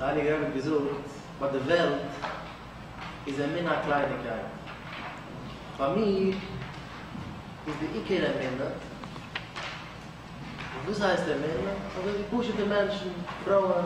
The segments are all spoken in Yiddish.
די הייליגע רבי האט געזאגט, ביי די וועלט איז אמונה א קלייניגקייט, ביי מיר איז די עיקר אמונה, און וואס הייסט אמונה? אזוי ווי פשוטע מענטשן, פרויען,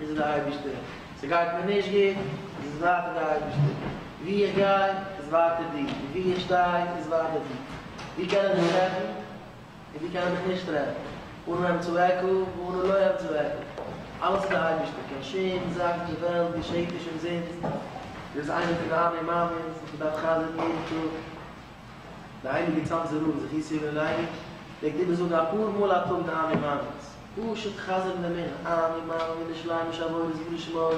איז עס דער אייבערשטער, ס'גייט מיר נישט גוט, איז עס ווייטער דער אייבערשטער, וואו איך גיי, איז ווייטער דיר, און וואו איך שטיי, איז ווייטער דיר, וואו קען איך דיך טרעפן, און וואו קען איך דיך נישט טרעפן, אנו הם צועקו ואנו לא הם צועקו, אלעס איז דער אייבערשטער, קיין שום זאך אין דער וועלט געשעט נישט אומזינסט, דו ביסט איינער פון די אני מאמין'ס וואס מ'דארף חזר'ן יעדן טאג. די הייליגע צאנזער רב איז זיך אי סביב אינאיינעם, פלעגט איבער זאגן אפאר מאל א טאג די אני מאמין'ס, פשוט חזר'ן דעם ענין, אני מאמין אין די שלימות עבודת בשמו,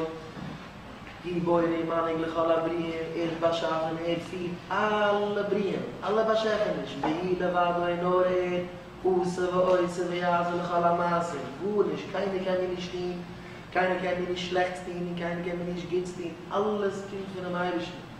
הוא בורא ומנהיג לכל הבריאים, ער האט באשאפען, ער פירט אלע בריאים, אלע באשעפעניש, והוא לבדו אין אור ער, עושה ועושה ויעשה לכל המעשים, גארנישט, קיינער קען מיר נישט טוהן, קיינער קען מיר נישט שלעכטס טוהן און קיינער קען מיר נישט גוטס טוהן, אלעס קומט פונעם אייבערשטן.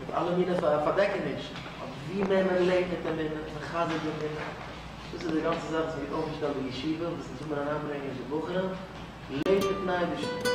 מיט אלע מיני פארדעקענישן, אבער ווי מער מען לעבט מיט אמונה, מחזק די אמונה, דאס איז די גאנצע זאך וואס האט אויפגעשטעלט די ישיבה, און וואס אונז וויל מיר אריינברענגען די בחורים, לעב מיטן אייבערשטן.